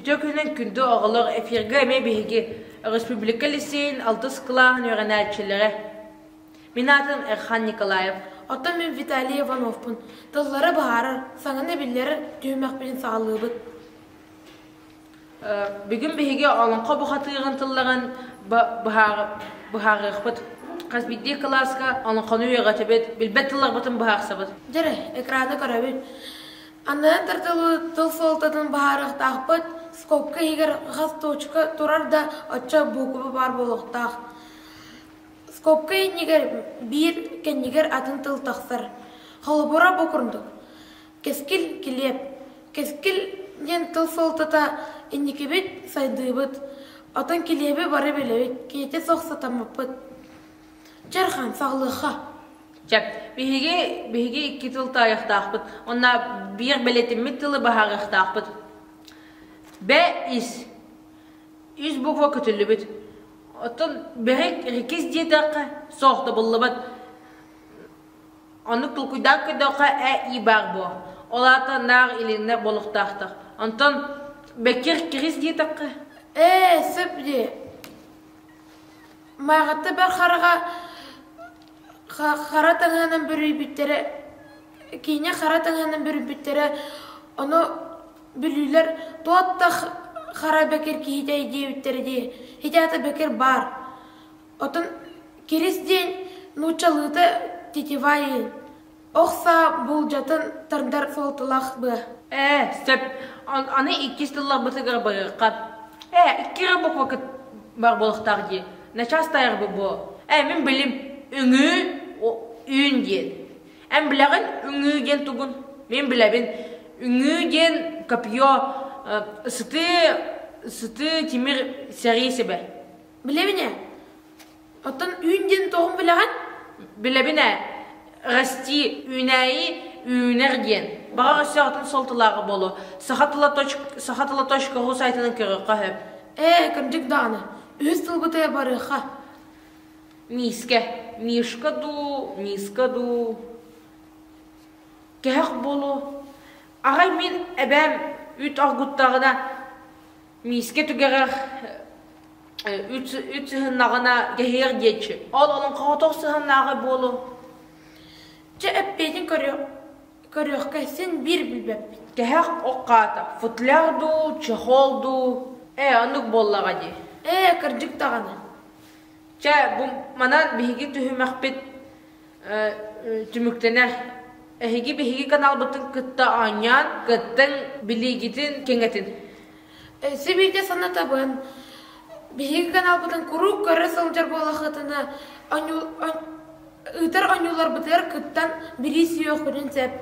Үтүө күнүн күндү оҕолор! Эфиргэ эмиэ биһиги өрөспүүбүлүкэ лиссиэйин алтыс кылааһын үөрэнээччилэрэ. Мин аатым Эрхан Николаев. Оттон мин Виталий Ивановпун. Тыллары быһаарар, саҥаны биллэрэр түһүмэхпин саҕалыыбыт. бүгүн биһиги олоҥхо бухатыыгын тыллаҕын быһаарыахпыт хас биирдии кылааска олоҥхону үөҕэтибит билбэт тылларбытын быһаарсабыт дьэрэ экраны көрөбүт аннынан тардылы тыл суолтатын быһаарыахтаахпыт скобка иһигэр хас точка турар да оччо букуба баар буолуохтаах скобка иннигэр биир кэннигэр атын тыл тахсар холобура бу курдук Кэскил килиэп. Кэскил диэн тыл суолтата инникибит сайдыыбыт, отон килиэби бары билэбит, киһитэ суох сатаммыппыт. Чархан, саҕылыахха. Чап, биһиги, биһиги икки тыл таайахтаахпыт. Онна биир бэлэтиммит тылы баһаарыахтаахпыт. Б ис. Үс буква көтүллүбүт. Оттон бэһик рекис диэтэххэ, соох да буллубат. Оннук толкуйдаан көрдөххө ээ ии баар буо. Ол аата наах илиннэ болуктаахтар. Онтон бэккир кирис диэтэххэ. Ээ, сөп дии. Мааҕатта бар хараҕа хара таҥаһынан бүрүйбүттэрэ киинэ хара таҥаһынан бүрүйбүттэрэ ону бүлүүлэр туоттах хара бэкир киһитэй диэбиттэрэ дии. Хитаата бэкир баар. Отон Кирис диэн нууччалыыта тетиваи ох саа буулдьатын тардар флоталаах быа Ээ, сөп. Аны иккис тылларбытыгар барыахха. Ээ, икки эрэ буква кыт бар буолахтаах дии. Начаас тайар бу буо. Ээ, мин билим. Үҥүү үүн диэн. Эн билэҕин үҥүү диэн тугун? Мин билэбин. Үҥүү диэн копье, ысытыы, ысытыы тимир сэрии сибэ. Билебин ээ. Оттон үүн диэн тоһун билэҕин? Билэбин ээ. Расти, үүнээйи, үүнэр диэн. Баҕа өссөҕүтүн солтулааҕы буолуо. Саха тыла точка, саха тыла точка уу сайтынан көрүөххэ сөп. Ээ, кырдьык даҕаны. Үһүс сылбытыгар барыахха. Миискэ. Мишка дуу, миска дуу. Кэһэх буолуо. Аҕай мин эбээм үүт оргуттаҕына Миискэ түгэҕэр үт сыһыннаҕына кэһиэр диэчи. Ол олун хоотох сыһыннааҕы буолу. Чэ эппиэтин көрүөх көрүөхкэ син биир билбэппит. Кэһэх оқаата, футляр дуу, чехол дуу. Ээ оннук буоллаҕа дии. Ээ кырдьык даҕаны. Чэ бу манан биһиги түһүмэхпит түмүктэнэр. Эһиги биһиги каналбытын кытта оонньоон, кыттың, билиигитин кэҥэтин. Сибииргэ санатабын, биһиги каналбытын куруук көрө сылдьар буолахытына, ыытар оонньууларбытыгар кыттан, билии сүөхпүтүн сөп.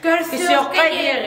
Көрсүөххэ диэри.